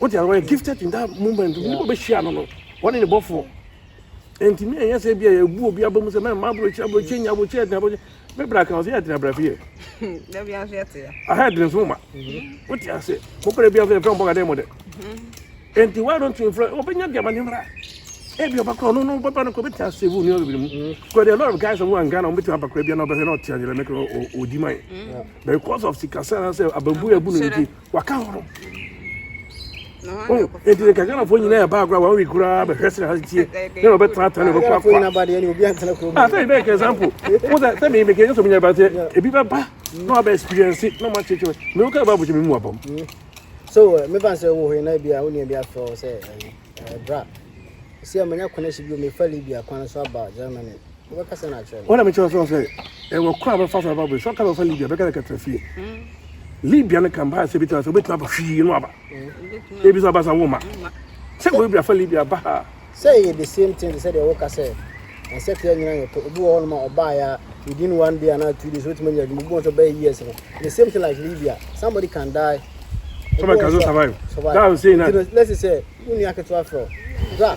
o ti a wɔyɛ gifted in that moment bi o bɛ hyia no no wɔn ne ne bɔfoɔ nti mi ɛnyɛ sɛ bi a yɛ bu obi abamu sɛ mɛ mma aburokyi aburokyi nya aburokyi ɛdina aburokyi mɛ bra kan ɔsɛ yɛ ɛdina bra fi yɛ aha ɛdina nso ma o ti a sɛ mo pɛrɛ bi a fɛ fɛn bɔ ka dɛ mo dɛ nti why don't you influence ɔbɛ nya diama ne mra ebi ɔba kura ɔno no ɔbɛ ba no kɔ ɔbɛ ti a save onua bebree mu kura there are a lot of guys ɔmo wɔ Ghana ɔmo bɛ ti aba kura bi a na ɔbɛ hwɛ na ɔti a yɛrɛ mɛ kura ɔdi ma yɛ. Because of sikasɛm anaasɛ abambu na abu no nti waka hɔ no. Eti ne kakanafo nyinaa ɛba agorɔ a wɔn wi koraa bɛhwɛ sɛ ha tie na wɔbɛtratra na wɔbɛkɔ akɔ. Ata yi bɛyɛ ka example wo sɛ sɛ meyɛ mekɛnyɛ sɛ menyɛ ba sɛ ebi bɛba na wabɛ experience na ɔma kyekyere me wo ka ba abɔkyɛ me mu abam. So mefa sɛ wo hɔ na bi a wo nua bi afrɛ wo sɛ bra. Ɔsi a manya connection bi o mefa Libya kwan so aba Germany. wona mekyerɛ sɛ sɛ ɛwɔ kora bɛfa so aba bere sɛ ɔka bɛfa libia bɛka dɛ kɛtra fie libia no ka mpaa sɛ bi tena sɛ wobɛtumi aba hwii no aba ebi sɛ aba sa wo ma sɛ wɔbia afa libia ba ha sɛ yɛ the same thing sɛ deɛ woka sɛ ɛsɛ kra nyina yɛtɔ obi wɔ hɔnom a ɔbaeɛ within one day anaa two days wotumi nya adwuma obi wɔ sɛ ɔbɛyɛ years no the same thing like libia somebody can die somebody can survive that was saying that let's say wonni aketewa frɛ bra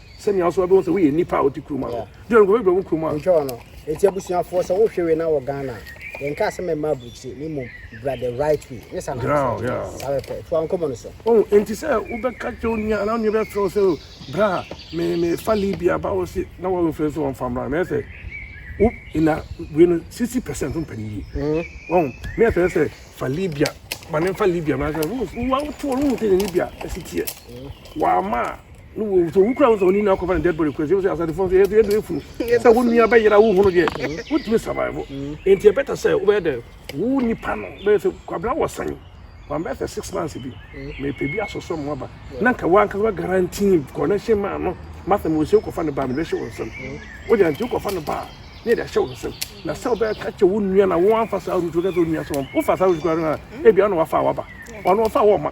sɛnea ɔso ɔbɛhu sɛ woyɛ nipa a ɔte kurom a deɛ nkurɔfoɔ bɛbrɛ wo kurom a ntwa ɔno ɛti abusuafoɔ sɛ wohwɛ wei na wɔ ghana yɛnka asɛm ɛma aburukyire ne mmom bra the right way ne sa nasawɛpɛ toa nkɔmmɔ no so oh, enti sɛ wobɛka kyerɛ wo nua anaa nua bɛfrɛ wo sɛ oh, bra mefa libia ba wo se na wɔmfrɛ sɛ wɔmfa mmra mɛyɛ sɛ wo na wei no sixty percent mpɛ ne yie wɔn mi yɛ sɛ fa libya ma ne nfa libya ma sɛ wo wo awotoɔ no wo sɛ ne libya ɛsi teɛ wɔama a. ne wo so wo kura wo sɛ wo ni na akɔfa ne dead body kura sɛ sɛ asade fɔn so yɛ so yɛ do efunu sɛ wo nua bɛ yera wo hunu deɛ mm. wo tumi survive mm. nti ɛbɛta sɛ wo bɛyɛ dɛ wo nipa no bɛyɛ sɛ kwabena wɔ san wɔn bɛyɛ sɛ six months bi mm. mɛ pɛ bi asosɔ mu aba na nka wɔn ankasa guarantee connection maa no masa mo nsuo kɔfa ne ba mi bɛ hyɛ wɔn nsam o de nti kɔfa ne ba ne de hyɛ wɔn nsam na sɛ wɔbɛyɛ kakyɛ wo nua na wɔn afa saa rutu kɛse onua so wɔn wofa saa rutu kura no na ebi ano wafa waba wɔn wafa wɔn ma.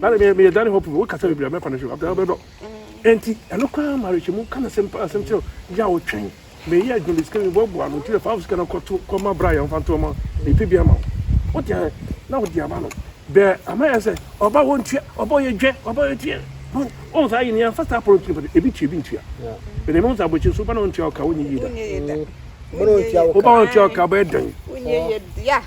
Dani me me Dani hope wo kasa bibia me kwane so abda bɛdɔ. Enti ɛno kwa marriage mu kana sem pa sem kyerɛ ya wo twɛn. Me yi adwuma bi sika bi bo bo ano ti fa sika na kɔto kɔma bra yɛn fa nto ma. Me pe bi ama wo. Wo te na wo di ama no. Bɛ ama yɛ sɛ ɔba wo ntua ɔba yɛ dwɛ ɔba yɛ tua. Wo sa yi ne an fast apron tiri ebi tua ebi ntua. Bɛ ne mo sa bɔkyi so ba na ntua ka wo nyi yi da. Mo ntua ka. Wo ba ntua ka bɛ dan. Wo nyi yi da.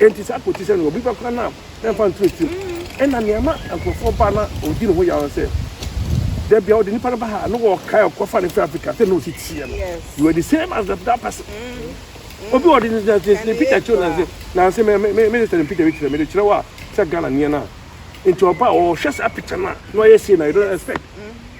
Enti saa quotation no, obi bɛkora no a, ɛmfa nto akyiri mu. Ɛna nea ɛma nkurɔfoɔ ba na ɔdi ne ho yaw no sɛ, da bia ɔde nipa no ba ha a, na wɔkae ɔkɔfa no firi Africa sɛ na ɔsi teɛ no. You are the same as that, that person. Mm-hmm. Obi ɔde ne picture kyerɛ na nse na nse me me me sɛ ne picture bi kyerɛ me de kyerɛ wɔ a sɛ Ghana neɛ no a. Nti ɔba a ɔhwɛ saa picture no a na ɔyɛ sei na you don't expect. Mm-hmm.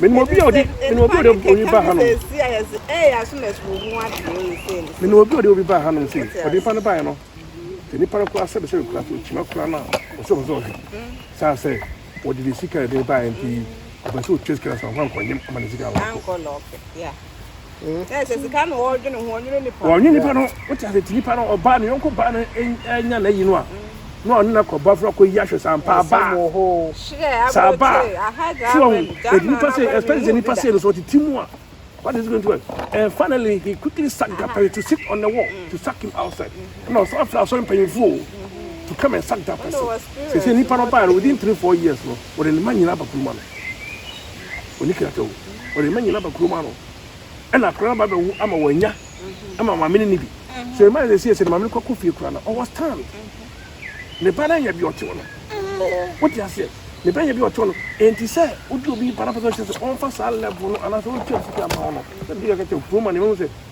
Menim obi a ɔde menim obi a ɔde obi ba hanom. Menim obi a ɔde obi ba hanom sei. Ɔde nipa no baeɛ no. Sɛ nipa no kora sɛ bɛsɛ kura so kyima kora no a ɔsɛ ɔsɛ ɔhwɛ. Saa sɛ wɔde ne sika de baeɛ nti ɔpɛ sɛ ɔtua sika no sɛ ɔmfa nkɔnyem ama ne sika nkɔ. Ɛsɛ sika na wɔdwene ho, ɔnwene nipa. Ɔnwene nipa no, wote ase ti nipa no ɔbaa ne yɔnko baa no anya n'ayi no a, na ɔne no akɔba foro akɔyi ahwɛ saa mpa abaa. Saa abaa. So wɔn, ɛdi nipa sɛ, especially sɛ nipa sɛ no so ɔte ti mu a, what is going to happen? And finally, he quickly sacked that person to sit on the wall, to sack him outside. Na ɔsan fira asɔre mpanyinfoɔ o, to come and sack that person. Sɛ sɛ nipa no baa no, within three, four years no, wɔde ne ma nyinaa aba kuruma no. ɔnni kratawu. Ɔde ne mma nyinaa ba kurom ano. Ɛna akwadaa no ba bɛwo ama wɔanya ama maame no nni bi. Sɛ ne mma yɛ sɛ sɛ ne maame no kɔkɔ fie koraa no, ɔwɔ stand. Ne ba no anya bi ɔtew no. Wote aseɛ? Ne ba anya bi ɔtew no. Enti sɛ wode obi ba na pɛ sɛ ɔkyerɛ sɛ ɔmfa saa level no anaasɛ ɔntua sika mma wo no, sɛ bi kakata kurom a ne ma hu sɛ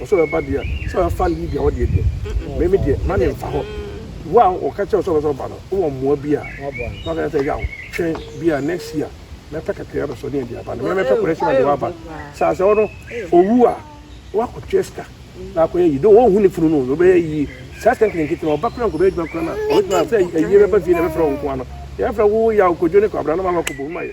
ɔsɛ ɔbɛba deɛ sɛ ɔbɛfa lead a ɔdeɛ deɛ mɛmi deɛ ma ne nfa hɔ wo a ɔka kyerɛ sɛ ɔbɛsɛ ɔba no wowɔ mmoa bi a waka sɛ yaw twɛn bi a next year mɛpɛ kakra bɛ sɔ ne ɛde aba no mɛmɛpɛ kɔrɛ sɛ mɛde waba sɛ asɛ ɔno owu a wakɔtwɛ sika na akɔyɛ yi do wɔhu ne funu no ɔbɛyɛ yi saa sika nkene nkete na ɔba kora nkɔbɛyɛ adwuma kora no a ɔbɛtumi sɛ ɛyie bɛba fie na ɛbɛfrɛ wo nkoa no yɛfrɛ wo yaw kodwo ne kwabra no ma wakɔbɔ mu ayɛ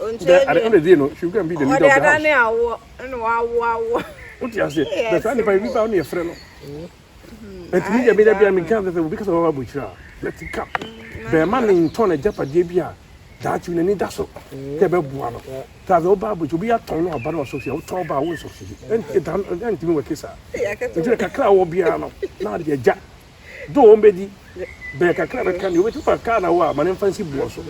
Ɔnkyerɛ deɛ. Ɛna deɛ no, she will go and be the leader of the house. Ɔde adane awoɔ, ɛna wawo awoɔ. Wote aseɛ? Bɛ saa nipa yi, bi ba ɔne ɛfrɛ no. Ɛti mi deɛ mi deɛ bi a mi nka sɛ obi kasa wɔn abo kyerɛ a, let it come. Bɛɛma ne ntɔn na gyapadeɛ bi a, daakye na ni da so. Kɛ bɛ boa no. Te aseɛ, ɔba abo kyerɛ, obi atɔn no aba no ɔsɔ fie, ɔtɔ ɔba a, wɔn sɔ fie. Ɛnti ɛda, ɛnti mi wɔ kesa. Ɛnti kakra wɔ biara no, na adeɛ gya. Do wɔn bɛdi bere kakra bɛka nea obetumi fa kaa na wɔ a ma no mfa nsi boɔ so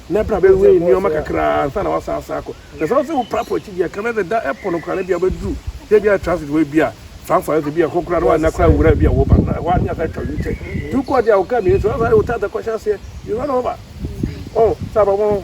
na pra bɛwei nneɛma kakra ansa na wasan asan akɔ. Na sɛ ɔsɛ woprapra akyidi a, ka na deda ɛpo no koraa na ebia wobɛduru sɛ ebia transit hɔ ebia Frankfurt anaasɛ ebia ɛhɔ koraa na woanna koraa nwura ebia wo ba na ɛhɔ ara ne asan atwa U-turn. Tu kɔ deɛ a wo kaa mmienu so na saa yɛ wo tata kɔhyɛ aseɛ, you run over. Oh, saa ba wɔn.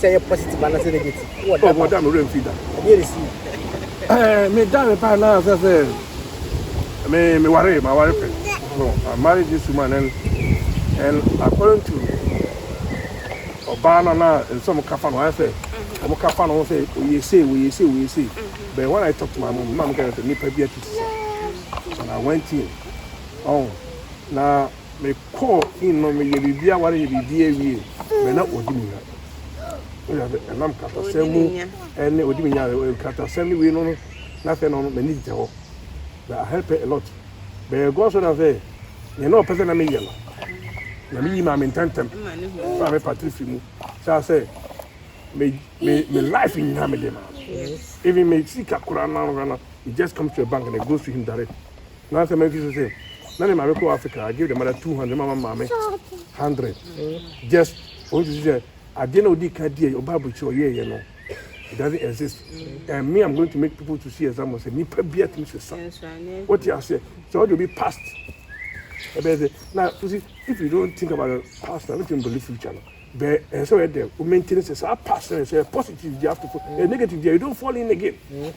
sɛ ɛyɛ positive anaasɛ negative wɔ data. Ɔda me werɛ mfi da. Ɛdeɛ ne si. Ɛɛ me da me pa na sɛ sɛ me me ware ma ware pɛ. No, I married this woman and and according to ɔbaa no na nsɛ ɔmo kafa no ayɛ sɛ ɔmo kafa no sɛ oyɛ sei oyɛ sei oyɛ sei. But when I talk to my mom, mom kɛ sɛ nipa bi atu sisa. And I went in. Oh, na Me kɔɔ in no me yɛ biribi aware yɛ biribi awie bɛ na ɔdi me nya ɔyɛ sɛ ɛnam kratasɛm mu ɛne ɔdi me nya kratasɛm ne wei no no na afei no m'ani gyina hɔ bɛ ahɛpɛ a lot bɛyɛ gɔ so na sɛ yɛn na ɔpɛ sɛ na meyɛ no na meyi maa me ntɛntɛm fa me patiri fi mu saa sɛ me me me life nyinaa me de ma even me sika koraa na no it just comes to a bank and it goes to him direct Na sɛ mɛnhwe so sɛ na ne maame kɔ Africa I give the mother two hundred mama maame hundred mm. just ɔno ti sɛ adeɛ na ɔdi ka deɛ ɔba aburukyerɛ ɔyɛɛyɛ no it doesn't exist mm. and me I'm going to make people to see example sɛ nipa bi atumi sɛ sa wote aseɛ sɛ ɔde obi past ɛbɛyɛ sɛ na you see if you don't think about the past na wetin believe future no bɛɛ ɛsɛ ɔyɛ dɛ o maintain sɛ saa past na ɛsɛ positive di after eh, negative di you don't fall in again. Mm.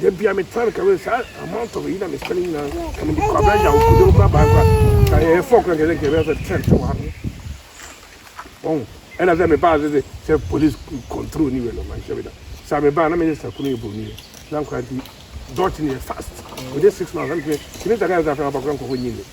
da bia me tena meka me saa amount of yi na me spend nyina ka me kwa bra ya ko do bra ba kwa ka e fo kwa kele kele se ten to wa bon ena se me ba se se police control ni we no man shebe da sa me ba na me sa kunu e bro ni na kwa di dot ni fast within 6 months i'm saying kimi ta ka sa fa ba kwa ko nyi ni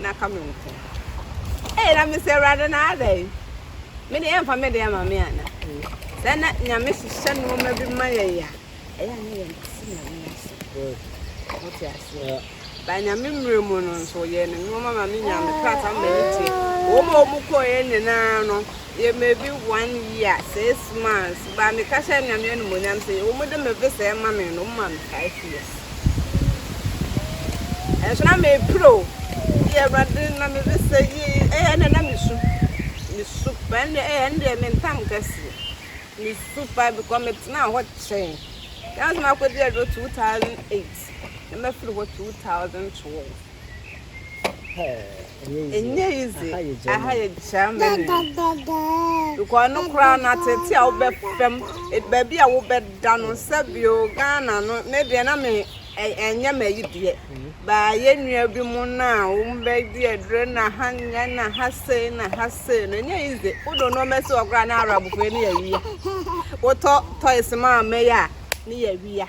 na aka me nko. Ee, na mesɛ Awurade na adɛn? Me deɛ ɛmfa me deɛ ma me ana? Sɛ na Nyame hyehyɛ nneɛma bi ma yɛn a, ɛyɛ a na yɛn te sɛ Nyame ase. Wote aseɛ? Ba Nyame mmerɛ mu no nso, yɛn nneɛma ma me nyaa me krataa ma ne tie. Wɔn a wɔn kɔɛ nyinaa no, Yɛ maybe one year six months but me ka hyɛ Nyame animonyam sɛ yɛ wɔn de me visa ɛma me no wɔn ma me five years ɛnso na me pere o yɛ awurade na me visa yi ɛyɛ ɛnna na me su me su pa ɛnna ɛyɛ ɛnna deɛ me ntam kɛseɛ me su pa because me tena hɔ kyɛn yɛn nso ma kɔ di aduro two thousand eight na ma firi hɔ two thousand twelve. Nnyɛ yidze, aha yɛ Germany, because no koraa no atseetsee a wobɛfa mu, beebi a wobɛda no, sɛbio Ghana no ne deɛ na me ɛnyɛ ma yi deɛ, baa yɛ nua bi mo no a wɔbɛdi aduro na ha nyɛ na ha sei na ha sei no ɛnyɛ yi dze, wodo nneɛma si hɔ koraa ne Arabfoɔ ne yɛ wia, wotɔ toys ma ama yi a ne yɛ wia.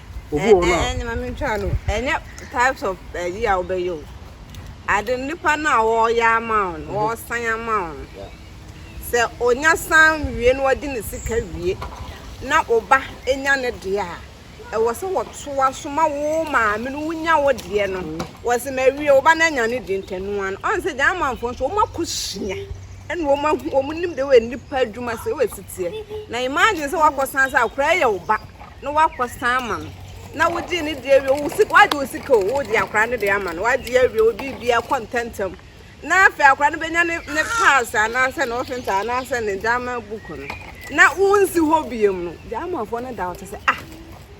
obi wɔ hɔ no a. Ɛɛ ɛɛ maame ntwa no ɛnyɛ types of ɛyi a wobɛyɛ o ade nipa no a wɔreyɛ ama wo no mhm. wɔresan ama wo no sɛ onya san wie na wɔde ne sika wie na ɔba nya ne deɛ a ɛwɔ sɛ wɔtoa so ma wo maame no wonya wo deɛ no mhm. wɔsɛ ma awie wo ba no anya ne deɛ ntɛnoa no ɔn sɛ gya amanfoɔ nso wɔn akɔ sua ɛna wɔn ahu wɔn nim de wɔ nipa adwuma sɛ wɔ asiteɛ na imagine sɛ wakɔ san sɛ akora yɛ wo ba na wakɔsan ama no na wogyee ne deɛ awie wagye wo sika o wode akora no deɛ ama no wagye awie wo biribia kɔ ntɛntɛm na afei akora no bɛnya ne ne pass anaasɛ ne ɔfenta anaasɛ ne gyama book no na wonsi hɔ biam no gyamafoɔ no da ɔte sɛ ah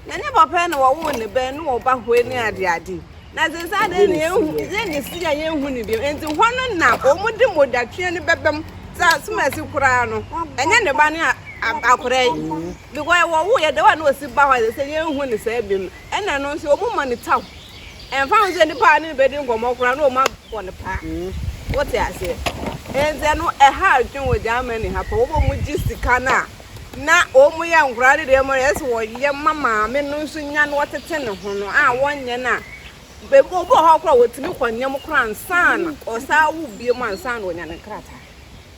na ne papa na wɔwoo ne bɛn ne wɔba hɔ ne adeade na sɛ saa deɛ ne yɛhu yɛ ne si a yɛhu ne biam nti hɔ no na wɔn de modatweɛ no bɛbɛm sɛ asomasi koraa no ɛnyɛ ne ba ne akora yi Because wɔwoo yɛ dɛw a na osi ba hɔ a ɛsɛ sɛ yenhu no saa bi no, ɛna ɛno nso wɔma no kyɛw. Ɛmfa ho sɛ nipa a ne no bedi nkɔmmɔ koraa no wɔabɔ no paa. Wote aseɛ? Enti ɛno ɛha adwene wɔ Germany ha paa. Wɔma wɔgye sika no a na wɔyɛ nkwadaa no nneɛma no, ɛsɛ sɛ wɔyɛ ma maame no nso nya na wɔtete ne ho no a wɔnyɛ no a, ebi wɔ hɔ a koraa a wɔtumi kɔ nea mu koraa ansa na wɔsan wo bio ansa na wɔanya ne nkrataa.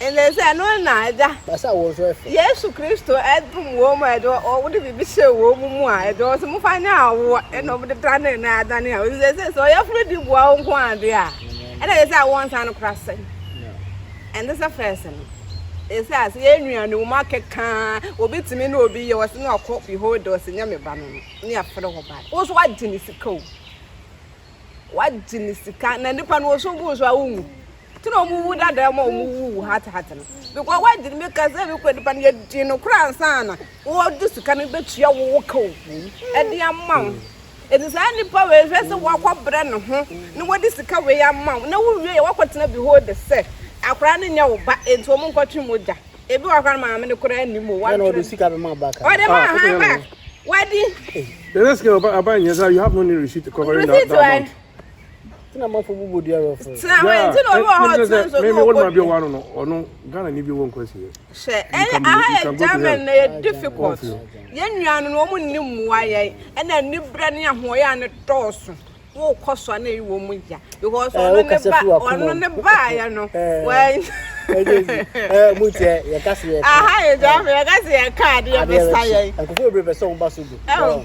Ɛnɛ sɛ ɛno na Agya. Yesu Kristo dom wɔn mu a ɛde wɔde biribi hyɛɛ wɔn mu mu a ɛde wɔn sɛ mofa nyɛ awoɔ ɛna wɔde danee na adane a ɔsɛ sɛ sɛ ɔyɛ foro di boa wo nko adeɛ a ɛna ɛsɛ sɛ awoɔ nsa no kora sɛn ɛnde sɛ fɛs no ɛsɛ ase yɛ nua ne wɔn akɛkaa obi tumi ne obi yɛ wɔsɛ na ɔkɔ fi hɔ de ɔsɛ nyɛ me ba no no ne afere hɔ ba wo so wagye ne sika o wagye ne sika na nipa no wɔsɛ obu so a wo nwu Tena ɔmo wu dada ɔmo a ɔmo wu wu hat hat no because wagye no meka sɛ me kura nipa no yɛgye no kora ansana wɔde sika no bɛtua wo wo kaw ɛde ama wo ɛti saa nipa wei hwɛ sɛ wakɔ brɛ ne ho na wɔde sika wei ama wo na wowie yɛ wakɔ tena bi hɔ de sɛ akora no nyɛ wo ba ɛti ɔmo nkɔtwe mogya ebi wɔ akora no maame no kora anim o wɔde ɔde sika bɛma ɔba kan ɔde ma ha ba wɔde the next girl aba nyɛ sɛ you have no need receipt covering that, that amount Tina mafo bubu di aro fo. Tina wa nti na obi wɔ hɔ tina nso no obo di. Wa no no ɔno Ghana ni bi wɔ nkwasi yɛ. Hwɛ ɛyɛ aha yɛ German na yɛ difficult. Yɛ nua no wɔn nni mmoa yɛ ɛna anibrɛ ne ahoɔyɛ a ne dɔɔso. Wo kɔ so ana yi wɔn mu ya because ɔno ne ba ɔno ne ba yɛ no. Wɔn. Ɛɛ mu tiɛ yɛ kasi yɛ. Aha yɛ German yɛ kasi yɛ kaa de yɛ bɛ sa yɛ. Nkokɔ bebree bɛ sɛ wɔn ba so bi.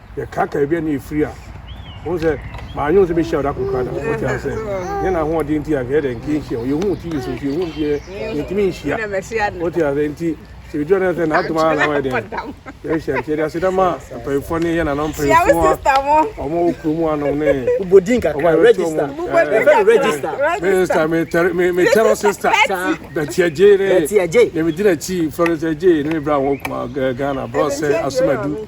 yɛkaakae baabi a na yɛfiri a, wohu sɛ maanyɛ wo sɛ bɛhyia wo da koro koraa da wote asɛ nyɛ na ahoɔden nti a hwɛ dɛ nka nhyia wo yɛhu tv so nti yɛhu deɛ yɛntumi nhyia wote asɛ nti sɛ bɛdua no sɛ naadom ara na wayɛ dɛn yɛhyia nti yɛde aseda ma mpanyimfoɔ ne yɛ nana mpanyimfoɔ a ɔma wɔ kuro mu anom ne minista metɛrɔ sista bɛtiagye ne yɛmedi nakyi florence agye ne mebrɛ a wɔkuma ghana brɔsɛ asomadu